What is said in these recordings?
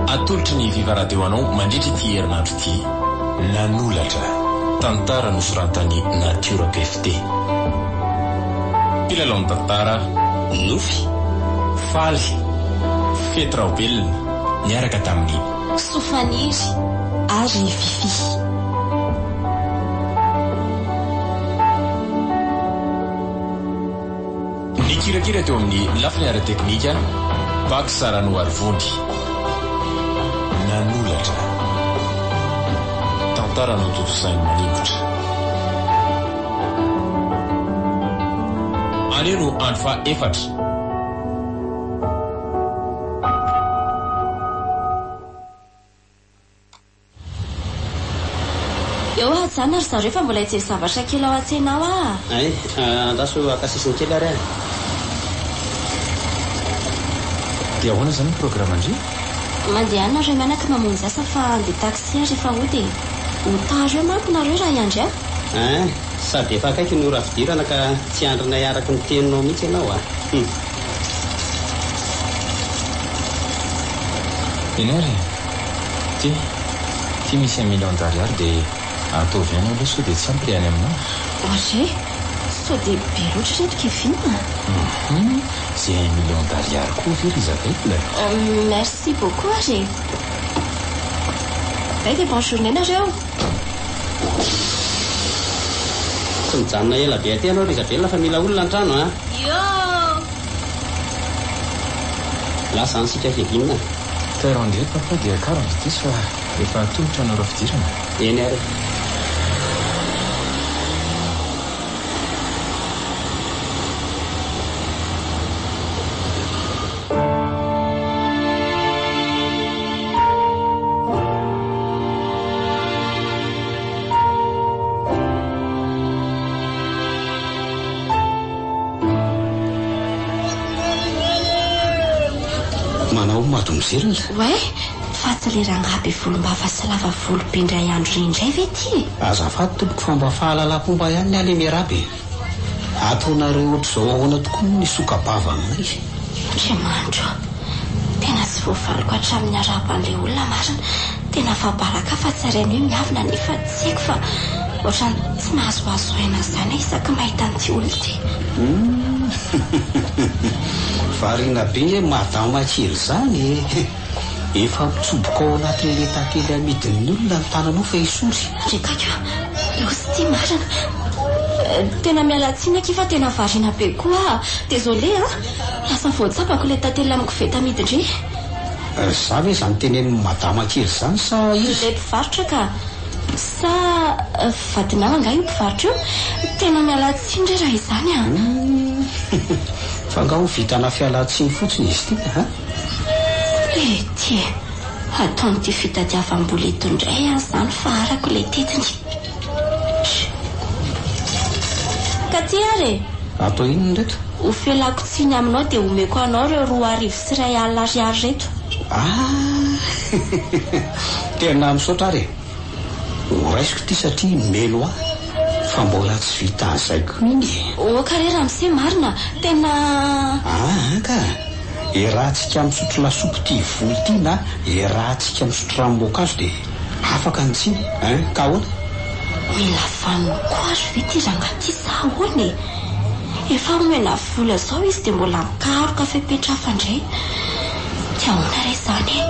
Atolotry ny Viva Radio anao mandritra ity herinandro ity, Nanolatra, tantara nosoratan'i Natiora Pefte. Mpilalao ny tantara, Nofy, Faly, Fety Raobelina, niaraka tamin'i. Sofaniry ary Fiffi. Nikirakira teo amin'ny lafiny ara-teknika Bac Saranoarivony. Nanoratra tantara notontosainy maningotra. Anio no andro faha efatra. Eo hajana ry zareo fa mbola hijery zavatra kely ao an-tsena ao aho a! Hay, andraso haka sisiny kely ary aho. Dia ahoana izany ny programan-dry? Mandeha any nareo mianaka mamonjy asa fa handeha taxi aho rehefa hody e! Ho tara eo manko nareo raha hiandry ahy. Hein, sady efa akaiky ny ora fidirana ka tsy hiandrinay araka ny teninao mihitsy ianao a! Hum. Eny ary e! Ty, ty misy un million d'ariary dia ataovy any aloha sao dia tsy ampy ilay any aminao. Ary e! Sao dia be loatra ireto Kevin a! Hum! Izay un million d'ariary koa ve ry Isabelle? Merci beaucoup ary e! Belle et bonne journée nareo! Tsy mijanona ela be aty ianao ry Isabelle fa mila olona an-trano an! Yoh! Lasa any sika Kevin a! Teo rangé papa dia kara mba diso fa efa atolotra anareo fidirana. Eny ary e. Manao mademoiselle? Oay, fa tsy le rangahy be volombava sy lava volo be indray andro reny indray ve ty e? Azafady tompoko fa mba fahalalapomba ihany ny ahy le miarahaba e. Ataonareo ohatr'izao ahoana tokoa moa ny sokabavanay? Andriamanitro a! Tena tsy voafariko hatramin'ny arahaba an'ilay olona marina. Tena afa-baraka fa tsy ary anio ny havana nefa tsy haiko fa ohatrany tsy mahazoazo aina izany aho isaky ny mahita an'ity olona ity. Hum! Variana be madama kely izany e! Efa ampitsoboka ao anatin'ny letakely amidin'ny olona ny tananao fa esory. Ry Taiko, loza ity marina. Tena miala tsiny akia fa tena variana be koa aho. Désolé a! Lasa voatsabako ilay tantely amin'ny koveta amidy ndry. Ry za ve izany tenenin'i Madama kely izany sa iza? Ilay mpivarotra ka! Sa vadinao angaha io mpivarotra io? Tena miala tsiny re raha izany a! Humm! Fa angaha ho vitanà fialan-tsiny fotsiny izy ity a? Ety e! Ataon'ity fitadiavam-bola eto indray aho izany fa arako ilay tetiny. Ka ty ary e! Atao inona ireto? Hofelako tsiny aminao dia homeko anao ireo roa arivo sy iray alina ariary ireto. Ah! Tena misaotra ary e! Ho raisiko ity satria melo ahy fa mbola tsy vita azay ko iny e! Oka re ramose marina tena. Aa ka! Iarahantsika misotro lasopy ity voly ity na iarahantsika misotro ranom-boankazo dia afaka ny tsiny hein ka ahoana? Mila vaniny koa ary ve ity rangahy ity sa ahoana e? Efa omena vola zao izy dia mbola mikaroka fepetra hafa indray. Tsy ao an-tara izany e!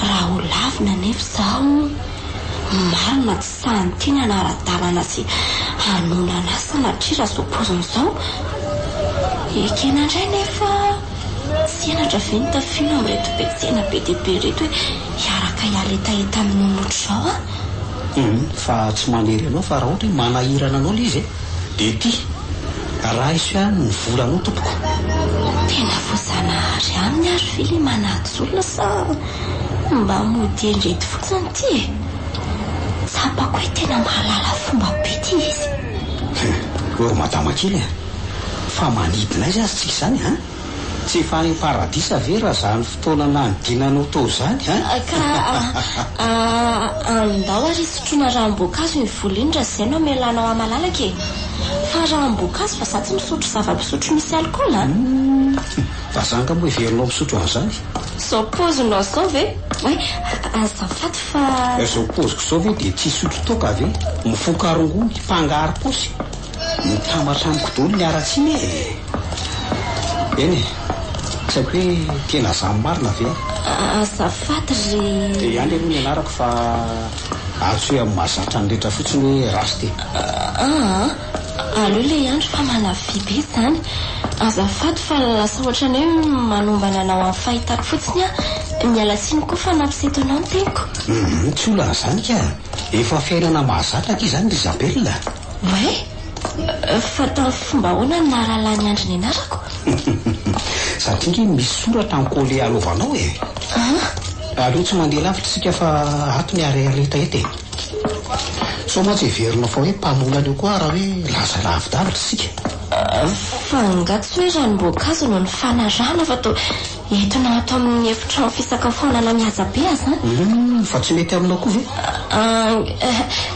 Raha holavina anefa izaho, ny marina tsy sahin'ny tiany hanara-dalana sy hanohana an'ahy sanatria raha izao paoziny izao. Ekena indray anefa, tsy henatra ve ny tafiana amin'ireto be tsena be dia be ireto hoe hiaraka hialetaheta amin'olona ohatr'izao aho? Hum, fa tsy manery anao fa raha ohatra hoe manahirana anao ilay izy e! de ity raiso ihany ny volany io tompoko. Tena voazanahary aminy ary ve le manaja olona sa mba mody endrety fotsiny ity e? Tsapako hoe tena mahalala fomba be ity izy. Hum, ô madama kely a! Fa manidina aiza aza tsika izany a! Tsy efa any paradisa ve raha zany fotoana nanidinanao tao zany an? Ka a, andao ary hisotroana ranom-boankazo iny vola iny raha izay no hamelanao ahy malalaka e! Fa ranom-boankazo fa za tsy misotro zava-pisotro misy alcool a! Humm! Fa za angamba heverinao misotro an'izany e! Zao paozinao zao ve? Oay, azafady fa. Zao paoziko zao ve dia tsy hisotro toaka ve? Mifoka rongony, mpangarom-paosy. Mitambatra amiko daholo ny haratsiana e! Eny e! Tsy haiko hoe tena izaho marina ve an! Azafady ry. Dia ihany aloha ny anarako fa antsoy amin'ny mahazatra ny rehetra fotsiny hoe Rasty e! Aa! Aleo ilay andry fa manafy be izany. Azafady fa lasa ohatran'ny hoe manombana anao amin'ny fahitako fotsiny aho. Miala tsiny koa fa nampiseto anao ny teniko. Humm tsy olana izany ka! Efa fiainana mahazatra akia izany ry Isabelle a! Oay! Fa tamin'ny fomba ahoana no nahalalan'i Andry ny anarako? Satria nge misy soratra an-kole alovanao e! An? Aleo tsy mandeha lavitra isika fa ato ny areareta eto e! Sao mantsy heverinao fa hoe mpanolana eo koa aho raha hoe laza lavidavitra isika? Fa angaha tsy hoe ranom-boankazo no nifanarahana fa toa. Entina ato amin'ny efitrano fisakafoanana mihaja be aza an! Humm! Fa tsy mety aminao koa ve? Aang!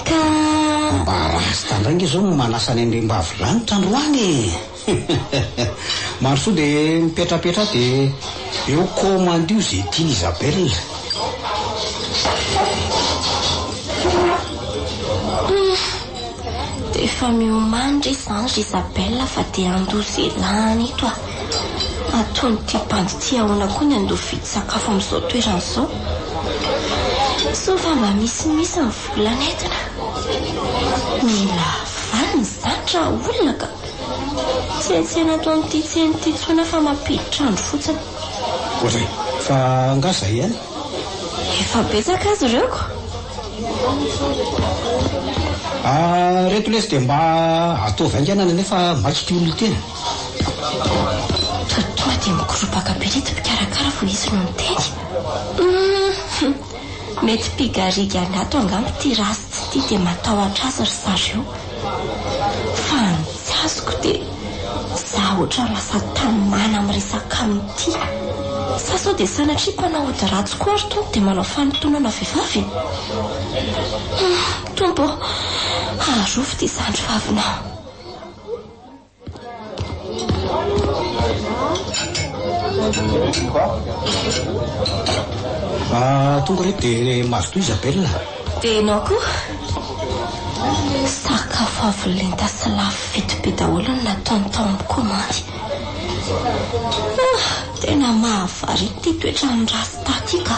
Ka. Mba rasta indray nge zao no manasa ny andriambavy lanitra androany e! Hehehehe! Mandrosoa dia mipetrapetra ato dia eo komandio izay tian'i Isabelle. Humm! Efa miomany re zany ry Isabelle fa dia handoa ze lany eto a! Ataon'ity bandy ty ahoana koa ny handoa vidy sakafo amin'izao toerana izao? Sao fa mba misimisy ny vola nentina? Mila vaniny izany raha olona ka! Tsy hay tsena ato amin'ity tsena ity intsony aho fa mampiditra andro fotsiny. Ohatry ny fa angaha zay ihany? Efa betsaka azy ireo ko! Ahh reto lesy dia mba ataovy haingana any anefa maika ity olona ity e. Toa tonga dia mikoropaka be ireto mpikarakara vao izy no niteny. Hum mety mpigarigy an'ato angamba ity Ratsy ity dia matahotra azy ry zareo. Fa ny tsy azoko dia za otra lasa tanimana am resaka am ty. Sa sao dia sanatria mpanao ody ratsy koa ry Tompo dia manao fanitonana vehivavy e? Hum Tompo ô! Arovy ty zandry vavinao. Ah, tonga re dia mazotoa Isabelle. Dia ianao koa? Sakafo avo lenta sy lafo vidy be daholo no nataony tao amin'ny komandy. Ah, tena mahavariana ity toetran'ny rasta ity ka.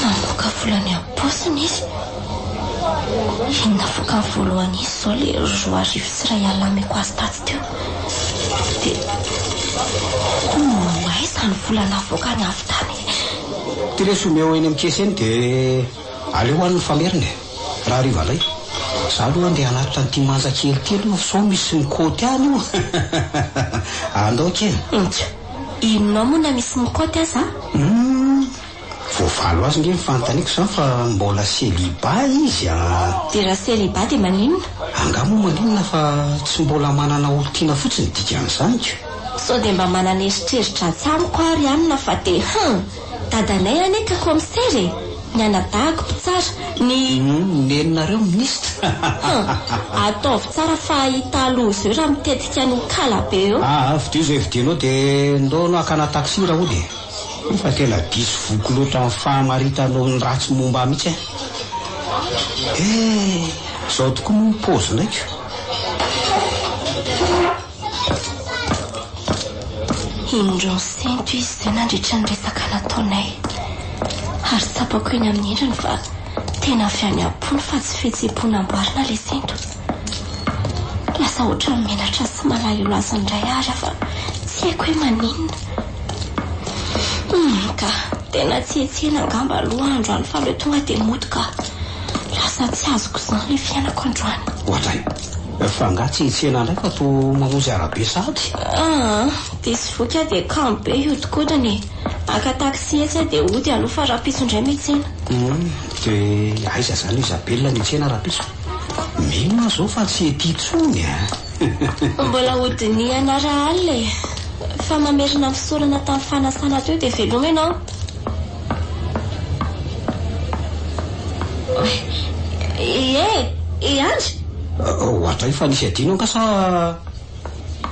Namoaka vola any am-paosiny izy. Iny navoakany voalohany iny izao ilay roa arivo sy iray alina ameko azy tatsy teo. Dia homba aiza ny vola navoakany avy tany e? Ity lesy omeo eny amin'ny caisse eny dia aleo ho an'ny famerina e! Raha hariva indray. Izaho aloha andeha hanatitra an'ity manja kely ity aloha sao misy ny côte any io. Andao kely. Inty. Henonao moa na misy mikaoty aza an! Voavaly ho azy nge ny fanontaniko izany fa mbola celibat izy an! Dia raha celibat dia maninona? Angaha moa maninona fa tsy mbola manana olon-tiana fotsiny dikan'izany ko! Sao dia mba manana eritreritra atsy amiko ary hanina fa dia hum! Dadanay anie ka commissaire e! Ny anadahako mpitsara, ny. Ny neninareo minisitra. Hum, ataovy tsara fa hahita aloha izeo raha mitetika an'io kala be eo. Aa, fidio izay vidianao de ndao anao hakana taxi raha hody e! Fa tena diso voky loatra amin'ny fahamaritanao ny ratsy momba ahy mihitsy an! Ee, izao tokoa moa ny paozinay ko! Indro nisento izy izay nandritra ny resaka nataonay, ary tsapako eny amin'ny endriny fa tena avy any am-pony fa tsy fihetseham-po namboarina ilay sento. Lasa ohatran'ny menatra sy malahelo azy indray ary aho fa tsy haiko hoe maninona. Humm ka, tena tsy hetsehina angamba aloha androany fa aleo tonga dia mody ka. Lasa tsy azoko izany ilay fiainako androany. Ohatr'ay. Fa angaha tsy hitsena indray fa toa mamonjy arabe sahady? Aa! Diso voky aho dia kamo be hihodinkodina e! Haka taxi etsy aho dia hody aloha fa rahampitso indray mitsena. Humm! Dia aiza izany io Isabelle mitsena rahampitso? Mino aho izao fa tsy ety intsony an! Mbola hodinihana raha alina e! Fa mamerina fisorana tamin'ny fanasana teo dia veloma ianao. Ee eh, ee Andry? Hoatray fa nisy adino angaha sa?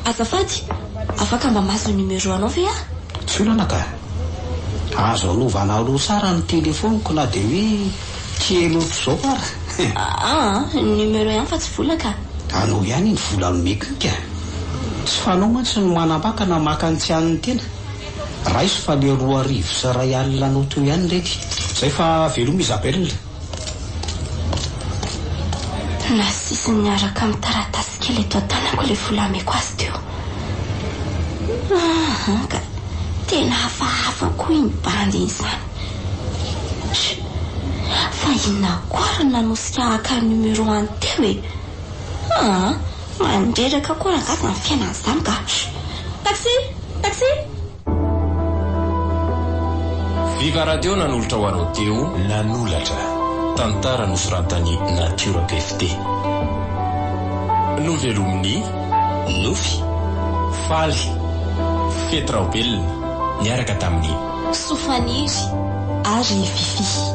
Azafady, afaka mba mahazo numéro anao ve aho? Tsy olana ka. Azo anovana aloha tsara ny téléphone-ko na dia hoe kely ohatr'izao ara. Aa, numéro ihany fa tsy vola ka. Anao ihany ny vola nomeko iny ka. Tsy fanao mantsy ny manambaka na maka ny tsy an'ny tena. Raiso fa le roa arivo sy iray alina anao teo ihany reny. Zay fa veloma Isabelle. Nasisiny niaraka amin'ny taratasy kely eto an-tanako ilay vola ameko azy teo. Aaha ka, tena hafahafa koa iny bandy iny izany. Tchou! Fa inona koa ary no nanosika haka ny numero any teo e? Aa! Mandreraka koa angaha zany fiainana zany ka. Taxi! Taxi! Viva Radio nanolotra ho anao Teo. Nanolatra, tantara nosoratan'i Natiora PFT. Novelomin'i Nofy, Faly, Fety Raobelina niaraka tamin'i. Sofaniry ary Fiffi.